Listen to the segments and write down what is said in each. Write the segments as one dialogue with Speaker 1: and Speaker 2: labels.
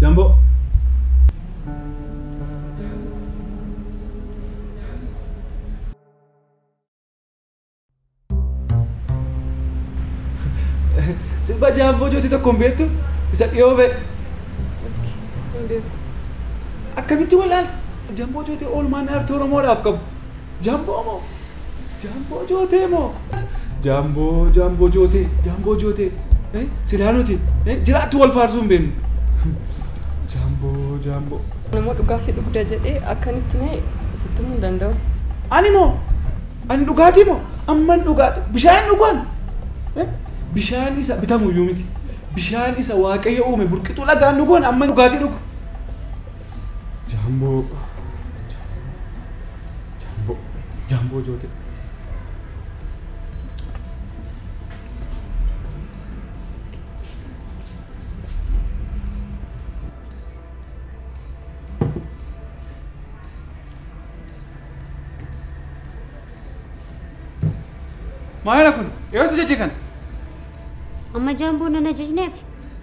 Speaker 1: Jamboo. Sirba jaamboo jooti tokko hin beektu isa dhiyoo ba'e. Akkamitti wal'aal jamboo jooti oolmaan aartii Oromoodhaaf qabu. Jamboo moo? Jamboo jootee moo? Jamboo jamboo jootee jamboo jootee eh, silaa nuti eh, jiraattu wal faarsuu hin beeknu. Jamboo jamboo.
Speaker 2: Nama dhugaasi dhugda jedhee akkanitti mee sitti himuu hin danda'u. Ani moo?
Speaker 1: Ani dhugaatii moo? Amman dhugaatii bishaan dhugaan eh, bishaan isa bitamu iyyuu miti. Bishaan isa waaqayyo uume burqituu lagaan dhugoon amman dhugaatii dhugu. Jaamboo jaamboo jaamboo joote. Maayila kun eessa jechi kana?
Speaker 3: Amma jaamboo nan ajajneeti.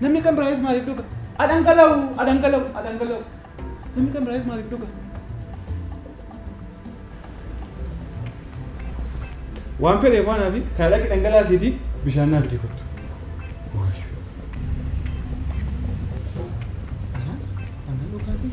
Speaker 1: Namni kan biraayis maaliif dhuga? Adhangala'u, adhangala'u, adhangala'u. Namni kan biraayis maaliif dhuga? Waan fedheef waan hafi kana dhaqi dhangalaasiiti bishaan naa bitee kottu. Ana, ana dhugaatii.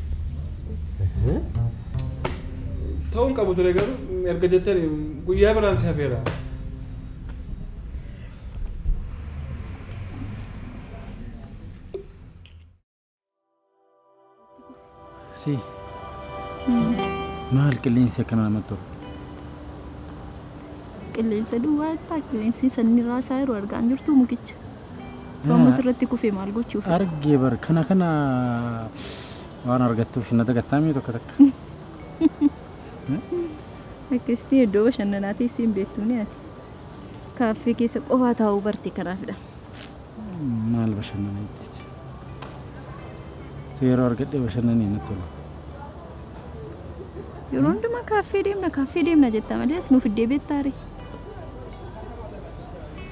Speaker 1: Ta'uu hin qabu ture garuu erga jettanii guyyaa biraan si hafeera.
Speaker 4: Si. Maal qilleensi akkana namatti tolu?
Speaker 5: Qilleensa duwwaa jettaa qilleensi sanni raasaa yeroo argaa hin jirtu mukicha. Too amma sirratti kufe maal gochuuf? Argee bar kana
Speaker 4: kana waan argattuuf hin dagattaamii tokko takka.
Speaker 5: Akkasitti iddoo bashannanaa teessee hin beektumne ati. Kaaffee keessa qofaa taa'uu barte kanaafidha.
Speaker 4: Maal bashannana jetteeti? Tu yeroo argadhee bashannanii natti tola.
Speaker 5: Yeroo hundumaa kaaffee deemna kaaffee deemna jetta malee as nuuf iddee beektaare.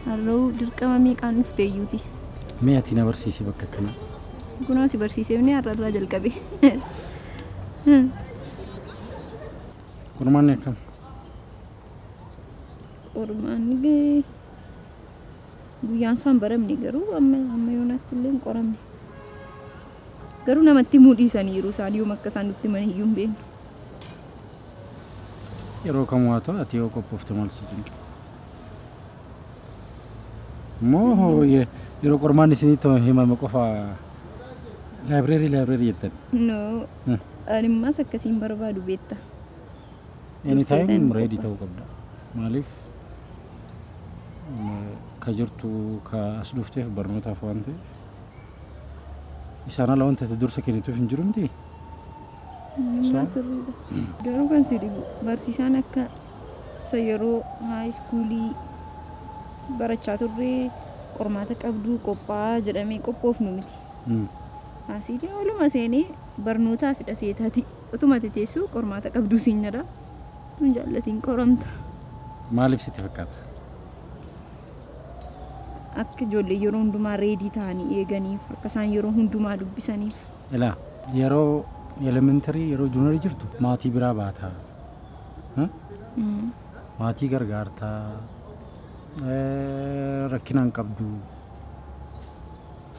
Speaker 5: Harra'uu dirqama meeqaan dhufte iyyuuti. Mee ati na
Speaker 4: barsiisi bakka akkanaa. Kunoo si
Speaker 5: barsiiseefni har'a irraa jalqabe.
Speaker 4: Qormaanni akkam?
Speaker 5: Qormaanni illee guyyaan isaan baramne garuu amma amma yoonaatti illee hin qoramne. Garuu namatti himuu dhiisaniiru isaan yoom akka isaan nutti himan iyyuu hin beeknu.
Speaker 4: Yeroo kamuu haa ta'u ati yoo qophoofte maal si cinqe? Moo yeroo qormaan isinitti himame qofa laayibireerii laayibireerii jettan? No,
Speaker 5: Hmm. animmaas akkasiin barbaadu beetta. Anytime
Speaker 4: Durseetan ready qofa. ta'uu qabda. Maaliif mm, ka jirtu ka as dhufteef barnootaaf waan ta'eef isaan ala wanta itti dursa kennituuf hin jiru miti. Animmaa So?
Speaker 5: sirriidha. Garuu kan si dhibu barsiisaan akka Isa yeroo high schoolii barachaa turre qormaata qabduu qophaa'aa jedhamee qophoofnu miti. Mm. Asiitiin oluma seenee barnootaa fidha seetaati. Otuma ati teessuu qormaata qabduu siin jedha. Tun jaallatiin qoramta. Maaliif
Speaker 4: sitti fakkaata?
Speaker 5: Akka ijoollee yeroo hundumaa reedii ta'anii eeganiif, akka isaan yeroo hundumaa dubbisaniif. Ilaa
Speaker 4: yeroo elementary yeroo junior jirtu maatii biraa baataa hmm? Mm. maatii gargaartaa eh, rakkina hin qabdu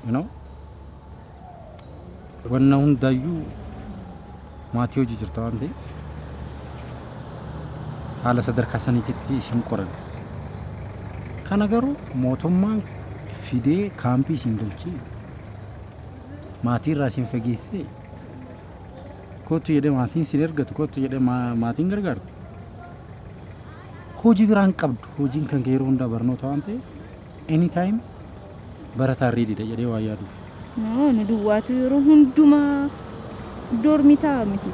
Speaker 4: you know? wanna hundaayyuu maatii hojii jirta waan ta'eef haala sadarkaa saniititti isin qoran kana garuu mootummaan fidee kaampii isin galchee maatii irraa isin fageessee kootu jedhee maatiin isin ergatu kootu jedhee maa- maatiin gargaartu hojii biraan qabdu hojiin kan kee yeroo hundaa barnoota waan ta'eef anytime barataa riididha jedhee waa yaaduuf Noo, nu duwwaatu
Speaker 5: yeroo hundumaa doormii ta'a miti.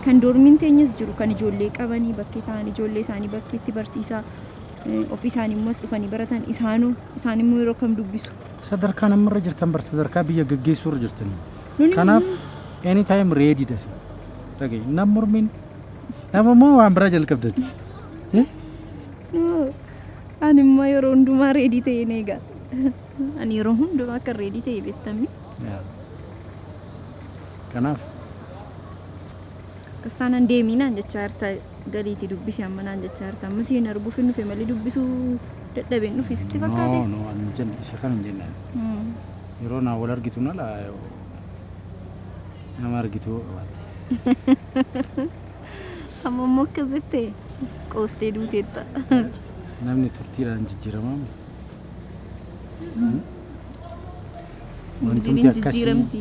Speaker 5: Kan doormiin teenyas jiru kan ijoollee qabanii bakkee ta'an ijoollee isaanii bakkeetti barsiisaa eh, ofii isaanii immoo as dhufanii baratan isaanoo isaan immoo yeroo kam dubbisu Sadarkaan amma irra
Speaker 4: jirtan bar sadarkaa biyya gaggeessuu irra jirtanii. Nuni Kanaaf mormii- any time ready dha isin. Dhaga'i nam mormiin nama moo waan biraa jalqabdan. Eh? Nuu,
Speaker 5: Ani immoo yeroo hundumaa reedii ta'ee ni eega. Ani yeroo hundumaa akka reedii ta'e beektamni. Yaa.
Speaker 4: Kanaaf Akkas
Speaker 5: taanaan deemii naan jechaa jirta. galiiti dubbisi amma naan jechaa jirta amma si hin arguuf hin dhufe malee dubbisuu dadhabeen dhufe sitti No, fakkaate no, an hin jenne. Isa
Speaker 4: kan hin jenne. ani. Mm. Yeroo naa wal argitu nala nama argitu yoo qabaatte.
Speaker 5: amma immoo akkas jettee qoostee duuteetta Namni
Speaker 4: turtiidhaan jijjiiramaa miti.
Speaker 5: Wantumti jijjiiramti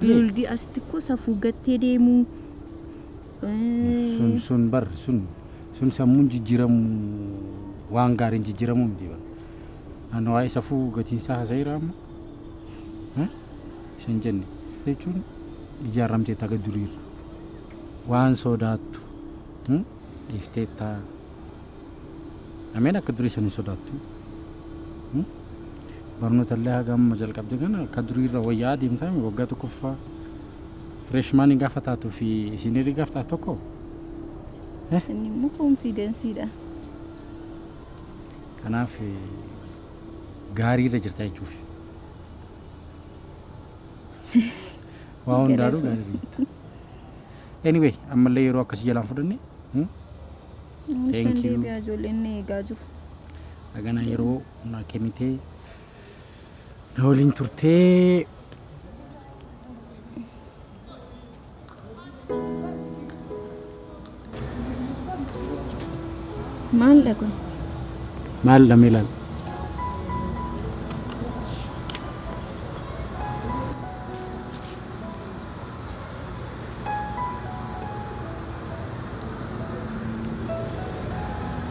Speaker 4: Duldii
Speaker 5: asitti koo safuu gattee deemuu. Sun sun
Speaker 4: bar sun sun sammuun jijjiiramu waan gaariin jijjiiramu miti bar. An waa'ee safuu gatiinsaa haasa'eera amma. Eh? Isa hin jenne. Jechuun ijaaramteetta aga duriirra. Waan soodaattu hmm? dhiifteetta. Ameen akka durii san hin sodaattu. Hmm? Barnoota illee haga amma jalqabde kana akka durii irra wayyaa adeemtaa mi waggaa tokkoffaa fireeshmaanii gaafa taatuu fi isiiniirii gaaf taatu tokko
Speaker 5: Inni immoo koonfiidensiidha.
Speaker 4: kanaaf eh, gaarii irra jirta jechuuf. Waa hundaanuu Galatoom. gaarii irra jirta. Anyway ammallee yeroo akkasii jalaan fudhanne. hmm? Innis Thank nan you. deebi'aa ijoolleen na eegaa
Speaker 5: jiru. Hagana
Speaker 4: yeroo na kennitee na waliin turtee.
Speaker 5: Maal dhaqu? Maal
Speaker 4: dhamee laal?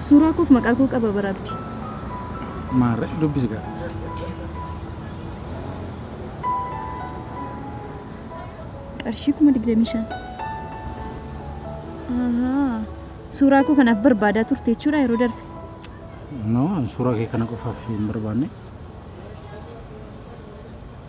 Speaker 5: Suuraa koof maqaa koo qaba bara abdi.
Speaker 4: Maarre dubbisi gaa.
Speaker 5: Qarshii kuma digdamii shan. Ahaa. Suuraa koo kanaaf barbaadaa turte jechuudha yeroo darbe. No,
Speaker 4: an suuraa kee kana qofaaf hin barbaanne.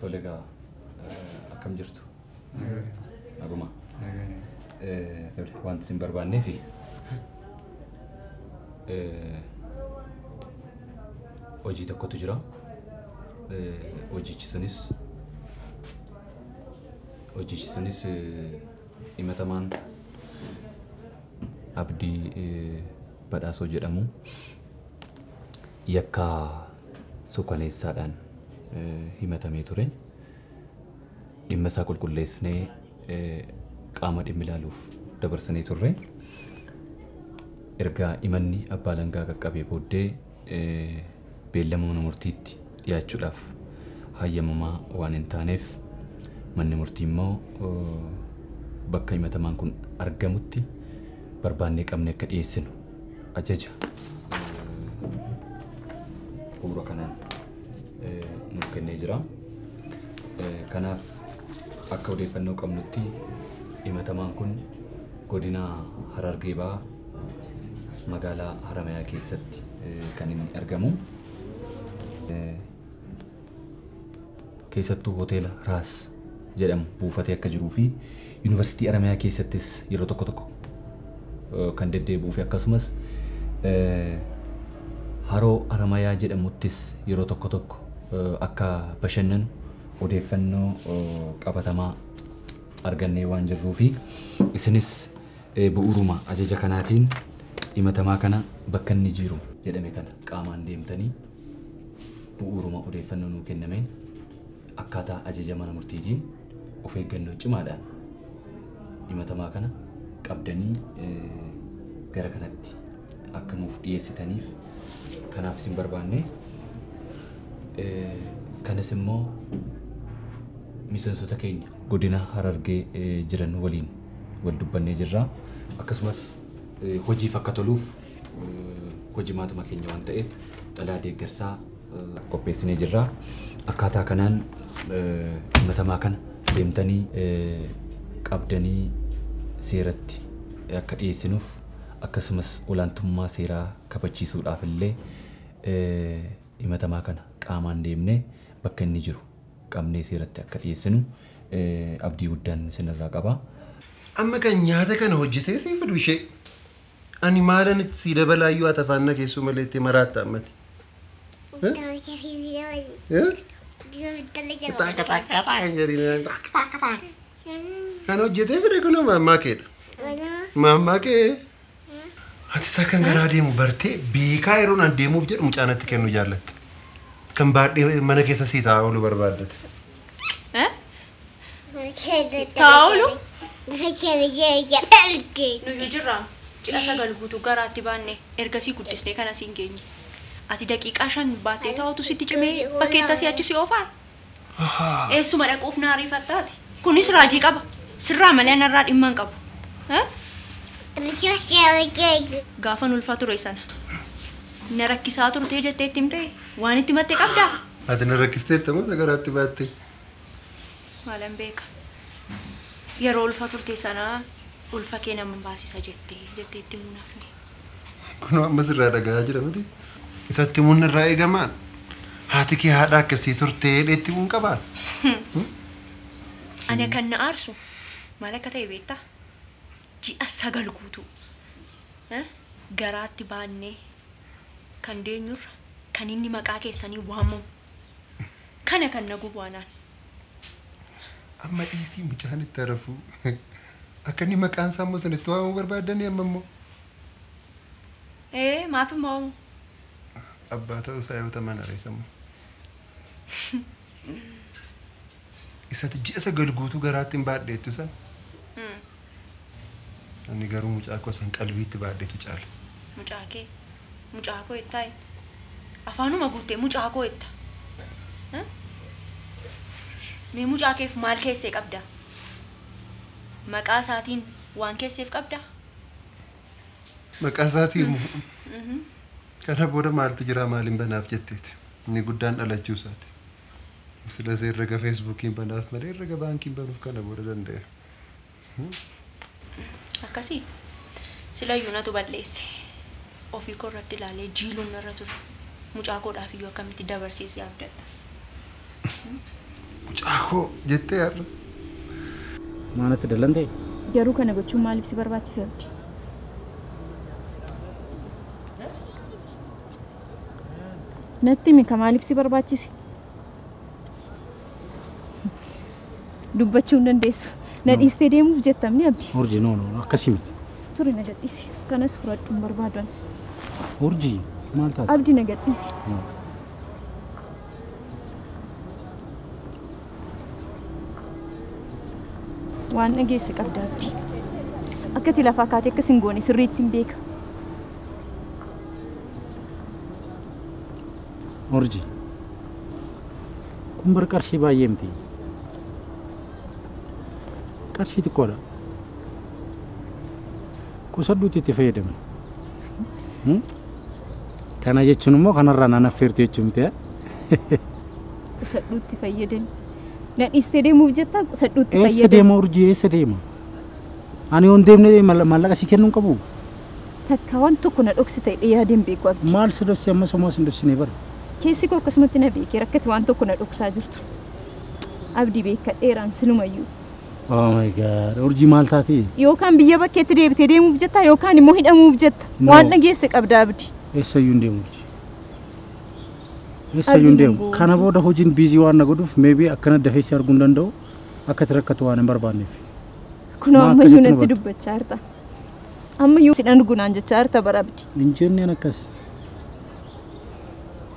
Speaker 6: Tole egaa akkam jirtu? Naguma. Eh, Tole wanti isin barbaannee fi eh, hojii tokkotu jira. Eh, Hojichi sunis hojichi sunis eh, Himatamaan Abdii Badhaasoo jedhamu yakka suukaneessaadhaan himatamee ture. Dhimma isaa qulqulleessnee qaama dhimmi ilaaluuf dabarsinee turre. Erga himanni abbaa alangaa qaqqabee booddee beellama mana murtiitti dhiyaachuudhaaf hayyamamaa waan hin taaneef manni murtii immoo bakka himatamaan kun argamutti barbaannee qabnee akka dhiyeessinu ajaja bu'uura kanaan nuuf kennee jira. Kanaaf akka odeeffannoo qabnutti himatamaan kun godina Harargee Bahaa magaalaa Haramayaa keessatti kan inni argamu. Keessattuu hoteela Raas jedhamu buufatee akka jiruu fi yuunivarsiitii Haramayaa keessattis yeroo tokko tokko kan deddeebi'uu fi akkasumas haroo Haramayaa jedhamuttis yeroo tokko tokko akka bashannanu odeeffannoo qabatamaa argannee waan jirruu fi isinis Bu'uuruma ajaja kanaatiin himatamaa kana bakka inni jiiru jedhame kana qaamaan deemtanii bu'uuruma odeeffannoo nuu kennameen akkaataa ajaja mana murtiitiin of eeggannoo cimaadhaan himatamaa kana qabdanii gara kanatti akka nuuf dhiyeessitaniif kanaaf isin barbaanne kanas immoo miseensota keenya godina Harargee jiran waliin wal dubbannee jirra. Akkasumas hojiif akka toluuf hojimaatuma keenya waan ta'eef xalayaa deeggarsaa qopheessinee jirra. Akkaataa kanaan himatamaa kana deemtanii qabdanii seeratti akka dhiyeessinuuf akkasumas olaantummaa seeraa kabachiisuudhaaf illee himatamaa kana qaamaan deemnee bakka inni jiru qabnee seeratti akka dhiyeessinu Abdii guddan sin irraa qaba. Amma kan
Speaker 7: nyaata kana hojjetee sii fidu ishee ani maalan itti sii dabalaayyuu ati afaan na keessuu malee itti maraatta ammati. Kan hojjetee fide kun maammaa keedha. Maammaa kee Atis akkan garaa deemu bartee beekaa yeroon an deemuuf jedhu mucaa natti kennu jaallatte. Kan baadhee mana keessa sii taa'aa oolu barbaaddate.
Speaker 5: Taa'olu? Nuyi
Speaker 2: jirra ji'a sagal guutu garaatti baanne ergasii guddisnee kan asiin geenye. Ati daqiiqaa shan baattee taa'utu sitti cimee bakkeetti asii achi si oofaa? Eessuma dhaquuf na ariifatta ati? Kunis raajii qaba. Sirraa malee anarraa dhimma hin qabu. Eh? Gaafan ulfaa ture sana na rakkisaa turtee jettee itti himte waan itti himatte qabdaa? Ati na rakkisteetta
Speaker 7: moo isa garaatti baattee?
Speaker 2: Maalan beeka. Yeroo ulfa turte sana ulfa kee nan baasisa jettee jettee itti himuu hin hafne. Kunoo
Speaker 7: amma sirraa dhagahaa jira miti. Isatti himuun irraa eegamaan haati kee haadha akkasii turtee jedhee itti himuun qabaan.
Speaker 2: Ana kan na aarsu maal akka ta'e beektaa? Ji'a sagal guutuu eh, garaatti baannee kan deenyurra kan inni maqaa keessanii waamamu kana kan na gubu anaan.
Speaker 7: Amma dhiisii mucaan itti harafuu. Akka inni maqaan isaa immoo sana itti waamamuu barbaaddanii amma immoo. Ee
Speaker 2: maaf hin moomu?
Speaker 7: Abbaa ta'uu isaa yoo taman hareessa immoo. Isati ji'a sagal guutuu garaatti hin baadheettu sana. Ani garuu mucaa koo san qalbiitti baadhetu caala. Mucaa kee
Speaker 2: mucaa koo jettaa hin. Afaanuma guuttee mucaa koo jetta. Mee mucaa keef maal keessee qabda? Maqaa isaatiin waan keesseef qabda? Maqaa
Speaker 7: isaatii immoo kana booda maaltu jiraa maaliin banaaf jetteeti. Inni guddaan dhalachuu isaati. Silas herrega feesbuukiin banaaf malee herrega baankiin banuuf kana booda danda'e.
Speaker 2: akkasii silayyuu natu balleesse ofii koo irratti ilaalee jiiluun narra ture mucaa koodhaaf iyyuu akkamitti dabarsee si abdadha
Speaker 7: Mucaa koo jettee har'a.
Speaker 4: Maanatti dallantee? Garuu kana gochuun
Speaker 5: maaliif si barbaachise abdi? Natti himi ka maaliif si barbaachise? dubbachuu hin dandeessu. Na dhiistee deemuuf jettamni abdi. Urji no no akkasii
Speaker 4: miti. Turi na gadhiisi.
Speaker 5: Kanas fudhadhu hin barbaadu ani. Urji
Speaker 4: maal taate? Abdi na gadhiisi. No.
Speaker 5: Waan dhageesse qabda abdi. Akkati lafaa kaatee akkas hin goone sirriitti hin beeka.
Speaker 4: Urji Kun bar qarshii baay'ee miti. Qarshii xiqqoodha. Qusadhuutti itti fayyadami. Hmm? Kana jechuun immoo kanarraa naan affeertu jechuu miti. eh? Qusadhuutti
Speaker 5: fayyadami. Na dhiistee deemuuf jettaa qusadhuutti Eessa fayyadami. deema urjii eessa
Speaker 4: deema? Ani yoon deemne mal- maallaqa sii kennuu hin qabu. Takka
Speaker 5: wan tokko na dhoksi ta'e dhe yaadeen beeku abdi. Maal si dhosse ammas homaa
Speaker 4: sin dhossine bar. Keessi koo akkasumatti
Speaker 5: na beeke rakkati waan tokko na dhoksaa jirtu abdi beekkadheeraan silumayyuu. Oh my
Speaker 4: God urjii maal taatee. Yookaan biyya bakkeetti
Speaker 5: deebitee deemuuf jettaa yookaan immoo hidhamuuf jetta. No. Waan dhageesse qabda abdi. Eessayyuu hin deemu urjii.
Speaker 4: Eessayyuu hin Abdii deemu. nangoo Kana urjii. booda hojiin biizii waan na godhuuf maybe akkana dafee si arguu hin danda'u. Akka ati rakkatu waan hin barbaanneef. Kunoo Maa
Speaker 5: ammayyuu akkasitti natti nu dubbachaa jirta. Ammayyuu sidhan dhugunaan jechaa jirta bara abdi. Hin jenneen akkas.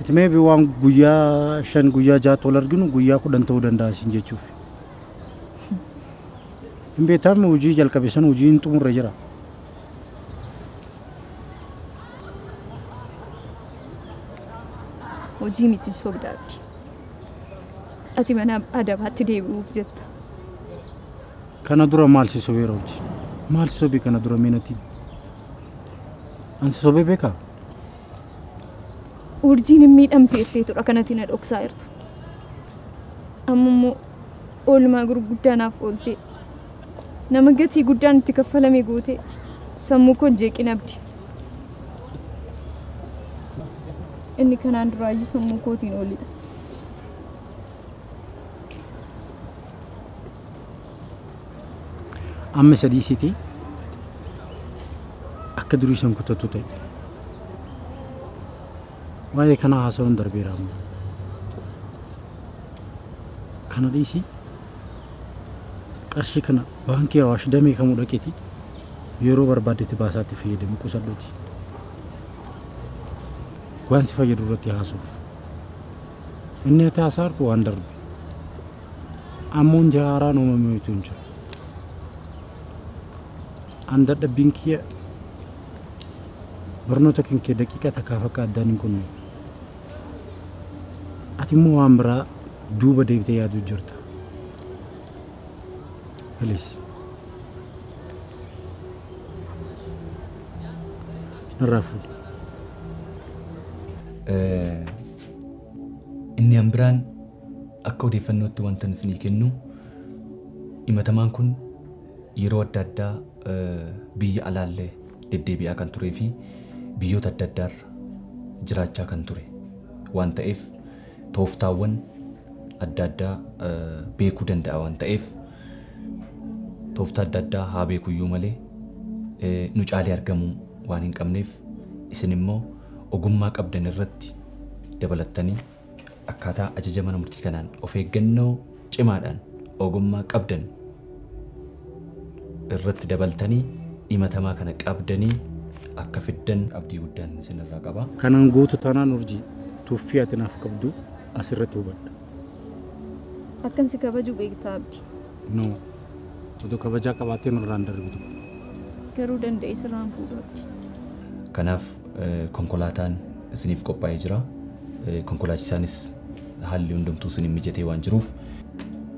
Speaker 4: It may be waan guyyaa shan guyyaa jaatti wal arginu guyyaa kudhan ta'uu danda'a siin jechuuf. Hin beektaamne hojii jalqabe sana hojii hin xumurre jira.
Speaker 5: Hojii miti sobda abdi. Ati mana adabaatti deebi'uuf jetta.
Speaker 4: Kana dura maal si sobeera hojii? Maal si sobee kana dura mee natti? An si sobee beekaa?
Speaker 5: Urjiin hin miidhamtu jetteetudha kanatti na dhoksaa jirtu. Amma immoo oolmaa gurguddaa naaf ooltee nama gatii guddaan itti kaffalame gootee sammuu koo hin jeeqin abdi. Inni kanaan duraayyuu sammuu kootiin oolidha.
Speaker 4: Amma isa dhiisiti akka durii san kutattu ta'e. Waa'ee kanaa haasawuun darbeera amma. Kana dhiisi qarshii kana baankii Awaash damee kamuu dhaqeeti yeroo barbaaddetti baasaatti fayyadami qusadhuuti. Waan si fayyadu irratti haasawuuf. Inni ati haasaa harku waan darbe. Ammuun ji'a haaraan uumame wayitu hin jiru. An dadhabbiin kiyya barnoota kan kee daqiiqaa takkaaf akka addaan hin kunne. Ati immoo waan biraa duuba deebitee yaaduu jirta. Please. Narraa fuudhi. Eh,
Speaker 6: Inni an biraan Akka odeeffannootti wantan isinii kennu himatamaan kun yeroo adda addaa biyya alaallee deddeebi'aa kan turee fi biyyoota adda addaarra jiraachaa kan ture waan ta'eef tooftaawwan adda addaa beekuu danda'a waan ta'eef tooftaa adda addaa haa beekuyyuu malee nu caalee argamuu waan hin qabneef isin immoo ogummaa qabdan irratti dabalattanii akkaataa ajaja mana murtii kanaan of eeggannoo cimaadhaan ogummaa qabdan irratti dabaltanii himatamaa kana qabdanii akka fiddan abdii guddaan isinirraa qaba. Kanan guutu taanaan
Speaker 4: urjii tuffii ati naaf qabdu asirratti hubadha.
Speaker 5: Akkan si kabaju beektaa abdi. No.
Speaker 4: Otoo kabajaa qabaattee nurraan darbitu. Garuu
Speaker 5: danda'ee sirraan fuudhu abdi. Kanaaf
Speaker 6: konkolaataan isiniif qophaa'ee jira. Konkolaachisaanis haalli hundumtuu isiniif mijatee waan jiruuf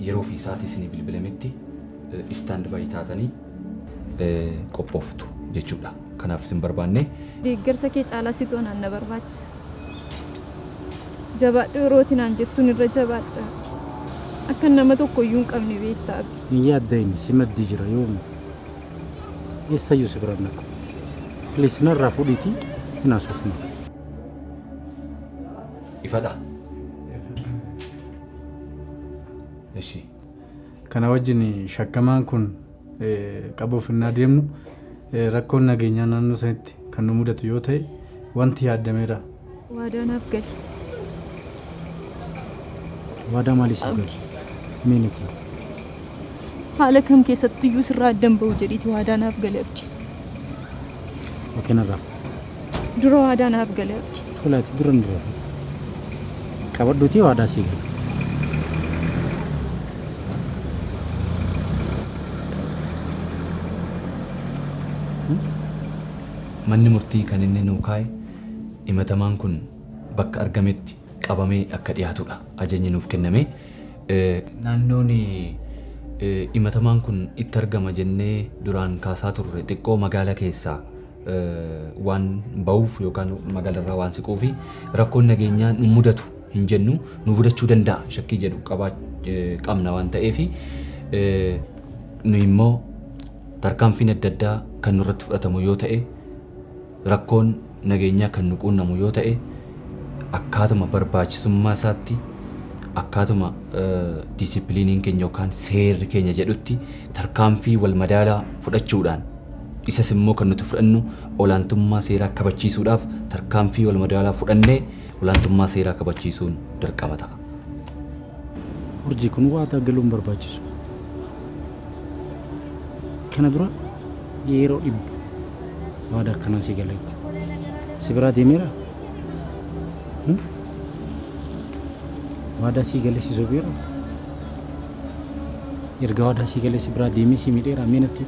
Speaker 6: yeroo fi sa'aatii isinii bilbilametti istaand baay'ee taatanii qophooftu jechuudha. Kanaaf isin barbaanne. Deeggarsa kee
Speaker 5: caalaa situ anaan na barbaachisa. Jabaadhu yeroo ati naan jettuun irra jabaadha. Akkan nama tokko iyyuu hin qabne beekta Abi. Hin yaadda'in, si
Speaker 4: maddii jira yoomu. eessayyuu si biran dhaqu please narraa fudhiiti hin haasofnu
Speaker 6: ifadha ishi
Speaker 1: kana wajjin shakkamaan kun eh, qabuuf innaa deemnu eh, rakkoon nageenyaa naannoo sanitti kan nu mudatu yoo ta'e wanti yaaddameera Waadaa naaf
Speaker 5: gali.
Speaker 4: Waadaa maalii siif galu? Mee natti himi.
Speaker 5: Haala kam keessatti iyyuu sirraa addan ba'u jedhiiti waadaa naaf gali abdi.
Speaker 4: Okee narraa. Dura
Speaker 5: waadaa naaf gali abdi. Tolaati dura hin dura.
Speaker 4: Qabadhuutii waadaa sii gala.
Speaker 6: Manni murtii kan inni nuu kaa'e himatamaan kun bakka argametti qabamee akka dhiyaatudha ajajni nuuf kenname. Naannoon himatamaan kun itti argama jennee duraan kaasaa turre xiqqoo magaala keessaa waan bahuuf yookaan magaalarraa waan siquuf rakkoon nageenyaa nu mudatu hin jennu nu mudachuu danda'a shakkii jedhu qabaa qabna waan ta'eef nu immoo tarkaanfiin adda addaa kan nurratti fudhatamu yoo ta'e Rakkoon nageenyaa kan nu quunnamu yoo ta'e akkaatuma barbaachisummaa isaatti, akkaatuma diisippiliiniin keenya yookaan seerri keenya jedhutti tarkaanfii wal madaalaa fudhachuudhaan, isas immoo kan nuti fudhannu olaantummaa seeraa kabachiisuudhaaf tarkaanfii wal madaalaa fudhannee olaantummaa seeraa kabachiisuun dirqama ta'a.
Speaker 4: Urjii, kun waadaa galuun barbaachisu. kana dura yeroo dhibbu waada akkanaa si galee si biraa deemeera Hmm? waadaa sii galee si sobeera erga waadaa sii galee si biraa deemee si midheera mee natti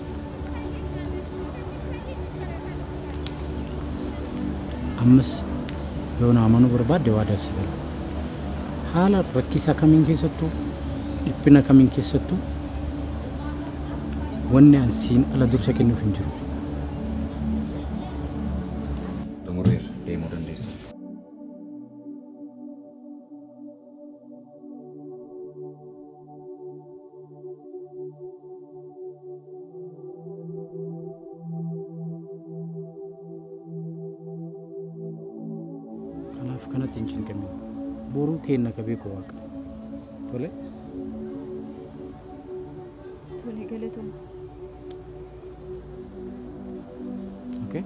Speaker 4: ammas yoo na amanuu barbaadde waadaa sii galee Haala rakkisaa kamiin keessattuu, dhiphina kamiin keessattuu wanni an siin ala dursa kennuuf hin jiru.
Speaker 6: Xumurreerra, deemuu dandeessu.
Speaker 4: Kanaaf kanatti hin cinqamin. Boruu keenna ka beeku waaqa. Tole?
Speaker 5: Tole galatooma. Okay?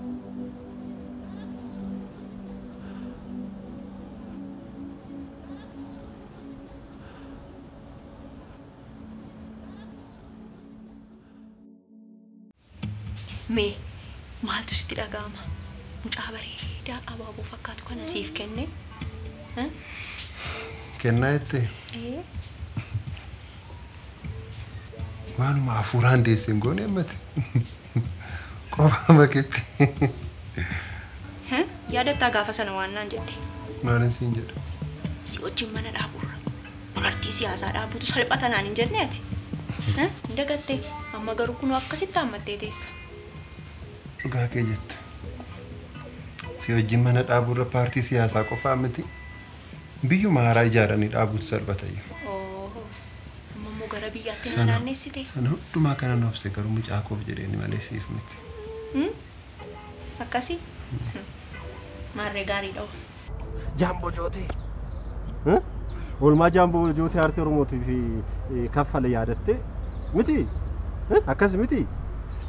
Speaker 2: Mee maaltu sitti dhaga'ama? Mucaa bareedaa abaaboo fakkaatu kana siif kenne. Eh?
Speaker 7: Kennaa jette Ee, waanuma hafuuraan deesse hin goone ammati. Qofaa baketti. He?
Speaker 2: Yaadattaa gaafa sana waan naan jette. Maalin siin jedhe?
Speaker 7: Si wajjin
Speaker 2: mana dhaaburra paartii siyaasaa dhaabutu salphata naan hin jenne ati. He? Hin dagattee? Amma garuu kunoo akkasitti haammattee teessa.
Speaker 7: Dhugaa kee jette. Si wajjin mana dhaaburra paartii siyaasaa qofaa miti. Biyyuma haaraa ijaaranii dhaabutu salphatayya.
Speaker 2: Amma immoo gara biyyaatti na Sana, naannessite. sana hundumaa kanan
Speaker 7: obse garuu mucaa koof jedheeni malee siif miti. Hmm?
Speaker 2: Akkasii? Hmm. Maarree gaariidha hoo. Jaamboo
Speaker 8: Jootee. Eh? Oolmaa Jaamboo Jootee Aartii Oromootii fi eh, kaffale yaadattee miti. Eh? Akkas miti.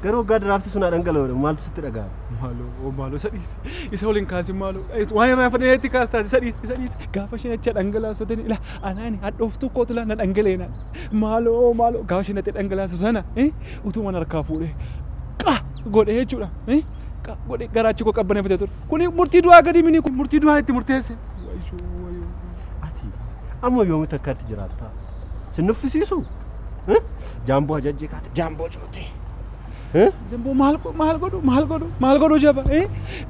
Speaker 8: Garuu waggaa diraafti sun haa dhangala'udha. Maaltu sitti dhaga'ama? Maaloo oo maaloo isa dhiisi.
Speaker 1: Isa waliin kaasin maaloo. Is- Waan irraa fadhee itti kaastaa isa dhiisi isa dhiisi. Gaafa isheen achi dhangalaasoteen ila Anaani hadhooftuu kootu laa na dhangala'e naan. Maaloo maaloo gaafa isheen dhaqxee dhangalaasu sana utuman harkaa fuudhee qa godhee jechuudha. Qa godhee garaachi koo qabbaneeffatee ture. Kuni murtii du'aa gadi mini kun murtii du'aa itti murteesse. Wayoo wayoo.
Speaker 8: Ati amma yoomitti akkatti jiraattaa? Sin nuffisiisu? Jaamboo ajajjee kaate jaamboo cootee.
Speaker 1: Jamboo maal godhu maal godhu maal godhu maal godhu jaba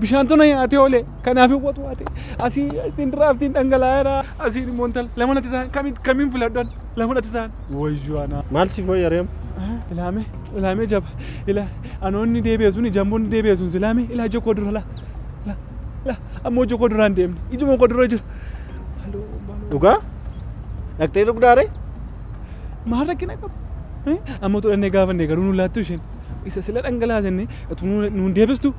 Speaker 1: bishaan tuna nyaatee oole kanaaf watu waate asii isin diraaftiin dhangalaa'eera asii immoo intal lama natti ta'an kamiin kamiin filadhan lama natti ta'an wayyoo anaa. Maal si fooyya reem?
Speaker 8: Ilaame
Speaker 1: ilaame jaba ila anoonni deebi'e suni jamboonni deebi'e sun silaame ila ija koo dura la la la ammoo ija koo dura hin deemne ijuma koo dura jira.
Speaker 8: Dhugaa? Dhaqxee dhugdaaree?
Speaker 1: Maal rakkina qaba? Amma utuu dhannee gaafanne garuu nu laattu isheen. Isa sila dhangalaasenne utuu nuun deebistu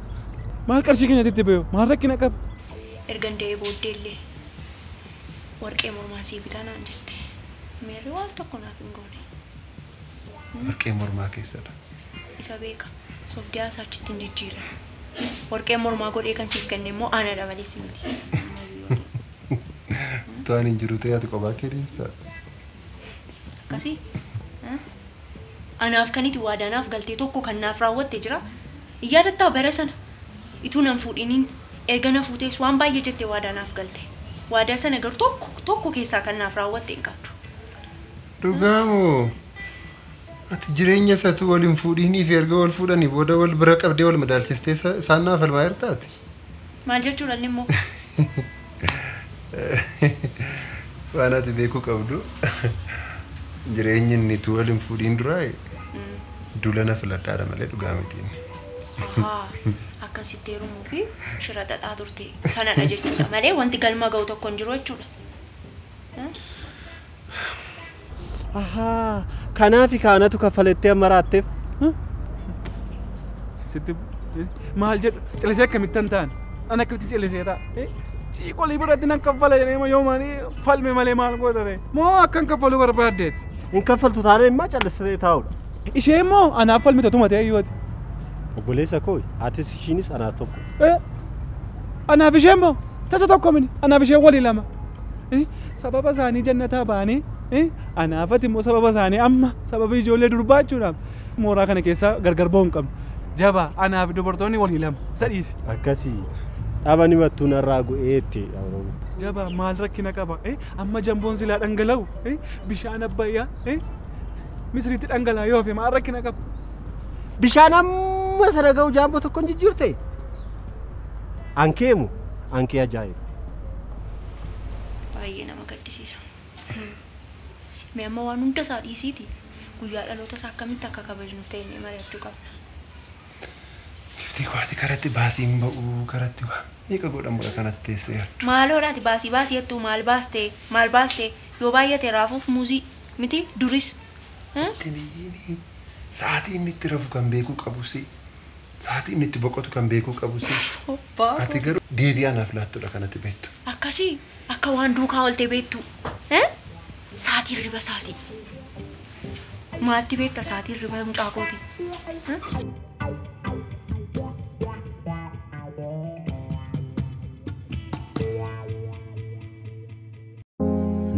Speaker 1: maal qarshii keenyatti itti bayu? Maal rakkina qaba? Ergan da'ee
Speaker 2: booddee illee warqee mormaan sii bitaa naan jette. Meerri waan tokko naaf hin goone.
Speaker 7: Warqee mormaa keessadha. Isa beeka.
Speaker 2: Sobdee haasaa achitti hin jijjiirin. Warqee mormaa godhee kan siif kenne immoo anadha malee si miti.
Speaker 7: Utuu ani hin jiru ta'e ati kophaa kee dhiissa. Akkasii
Speaker 2: eh? anaaf kan iti waadaa naaf galtee tokko kan naaf raawwatte jira hin yaadattaa bara sana ituu nan fuudhiniin erga na fuutees waan baay'ee jettee waadaa naaf galte waadaa sana garuu tokko tokko keessaa kan naaf raawwatte hin qabdu. Dhugaa
Speaker 7: moo? Ati jireenya isatuu wal hin fuudhiinii fi erga wal fuudhanii booda wal bira qabdee wal madaalchistee isa- isaan naa falmaa jirta ati? Maal jechuudha
Speaker 2: inni immoo?
Speaker 7: Waan ati beekuu qabdu jireenyi inni utuu wal hin fuudhiin duraa dula na filadhaadha malee dhugaa miti inni. Ahaa, akkan
Speaker 2: sitti heerumuu fi shira xaxaa turte sanadha jechuudha malee wanti galma ga'u tokko hin jiru jechuudha.
Speaker 8: Ahaa kanaafi kaa anatu kaffalettee amma raatteef.
Speaker 1: Sitti maal jedhu callisee akkamittan ta'an an akkamitti callisee ta'a. Ciiqolii biratti nan kaffala jedhee ma yoomaan falme malee maal goota ta'e moo akkan kaffaluu barbaaddeeti. Hin kaffaltu taanaan
Speaker 8: immoo callistee taa'udha. Ishee immoo
Speaker 1: anaaf falmita tuma ta'e yooti. Obboleessa
Speaker 8: koo atis ishiinis anaaf tokko.
Speaker 1: Anaaf ishee immoo Tasa tokko mini anaaf ishee wali lama. Eh, Sababa isaanii jannataa baanee eh, anaafati immoo sababa isaanii amma sababa ijoollee durbaa jechuudhaaf mooraa kana keessa gargar ba'uu hin qabnu. Jabaa anaaf dubartoonni walii lama isa dhiisi. Akkasii
Speaker 8: dhaba ni mattuu narraa gu'ee itti dhabroo. Jabaa
Speaker 1: maal rakkina qaba eh, amma jamboon silaa dhangala'u eh, bishaan abbayyaa eh, misiriitti dhangala'aa yoo hafe maal rakkina qaba. Bishaan
Speaker 8: amma sana ga'u jaamboo tokkoon jijjiirte Ankee mo ankee ajaa'iba.
Speaker 2: Baay'ee nama gaddisiisa. Mee amma waan hunda isaa dhiisiiti guyyaa dhaloota isaa akkamitti akka kabajnuuf teenyee mari'achuu qabna.
Speaker 7: Giftii koo ati karatti baasii hin ba'uu karatti waa meeqa godhamu dha kanati teessee yaaddu. Maaloo dha ati baasii baasii
Speaker 2: jettuu maal baaste maal baaste yoo baay'ate raafuuf muuzii miti duris. Itti hin iyyini
Speaker 7: sa'aatii inni itti rafu kan beekuu qabusii. Sa'aatii inni itti boqotu kan beekuu qabu si. Abbaa Ati koo. garuu deebii anaaf laattudha kan ati beektu. Akkasii
Speaker 2: akka waan duukaa oolte beektuu. Eh? Sa'aatii hirriba isaatii. Maatti beekta sa'aatii hirriba mucaa kootii. Eh?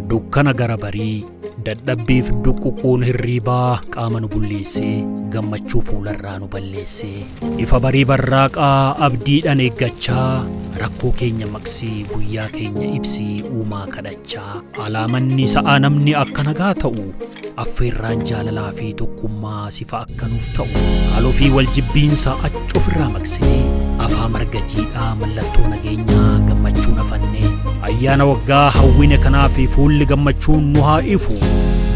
Speaker 9: Dukkana gara barii, dadhabbiif duqquqquun hirriibaa qaama nu bulleessee, gammachuu fuularraa nu balleessee. Ifa barii barraaqaa abdiidhaan eeggachaa, rakkoo keenya maqsii guyyaa keenya ibsii uumaa kadhachaa. Alaa manni sa'aa namni akka nagaa ta'u. Affeerraan jaalalaa fi tokkummaa sifa akka nuuf ta'u. Haaloo fi wal jibbiinsa achi ofirraa maqsinee afaa marga jiidhaa mallattoo nageenyaa gammachuun afannee. Ayyaana waggaa hawwine kanaa fi fuulli gammachuun nu haa ifu.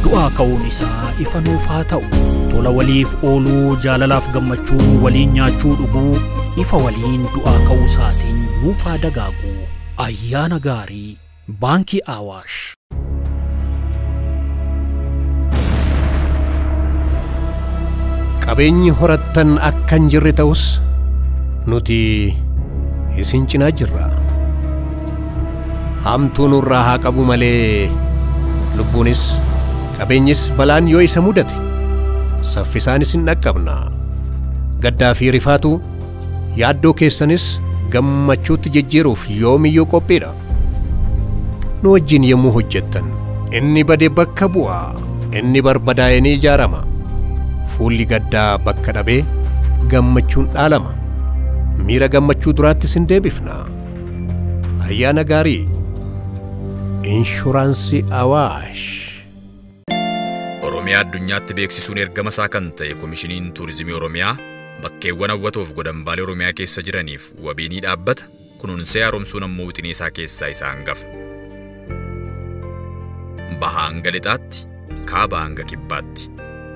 Speaker 9: Du'aa ka'uun isaa ifa nuuf haa ta'u. Tola waliif ooluu jaalalaaf gammachuun waliin nyaachuu dhuguu ifa waliin du'aa ka'uu isaatiin nuuf haa dagaagu. Ayyaana gaarii! Baankii Awaash.
Speaker 10: Qabeenyi horattan akka hin jirre ta'us nuti isin cinaa jirra. Hamtuu nurraa haa qabu malee lubbuunis qabeenyis balaan yoo isa mudate saffisaan isin dhaqqabna. Gaddaa fi rifaatu yaaddoo keessanis gammachuutti jijjiiruuf yoomiyyuu qophiidha. nu wajjin yommuu hojjettan inni bade bakka bu'a inni barbadaa'e ni ijaarama fuulli gaddaa bakka dhabee gammachuun dhaalama miira gammachuu duraatti sin deebifna ayyaana gaarii inshuraansii awaash
Speaker 11: Oromiyaa addunyaatti beeksisuun ergama isaa kan ta'e Komishiniin Tuurizimii Oromiyaa bakkeewwan hawwatoof godambaalee Oromiyaa keessa jiraniif wabii ni dhaabbata. Kunuunsee haaromsuun ammoo wixinee isaa keessaa isa hangafa. Bahaa hanga lixaatti, kaabaa hanga kibbaatti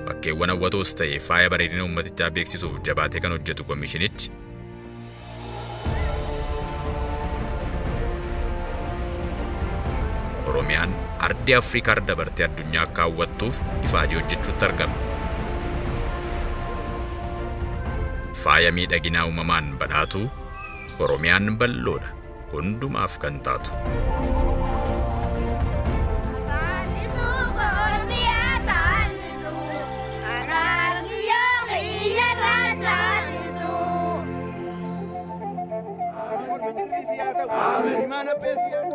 Speaker 11: bakkeewwan hawwatoos ta'e faaya bareedina uummatichaa beeksisuuf jabaatee kan hojjetu komishinichi, Oromiyaan ardii Afrikaa irra dabartee addunyaa akka hawwattuuf ifaajee hojjechuutti argama. Faaya miidhaginaa uumamaan badhaatuu, Oromiyaan bal'oodha, hundumaaf kan taatu.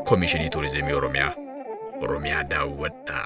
Speaker 11: Komishinii Turizimii Oromiyaa, Oromiyaa daawwadhaa!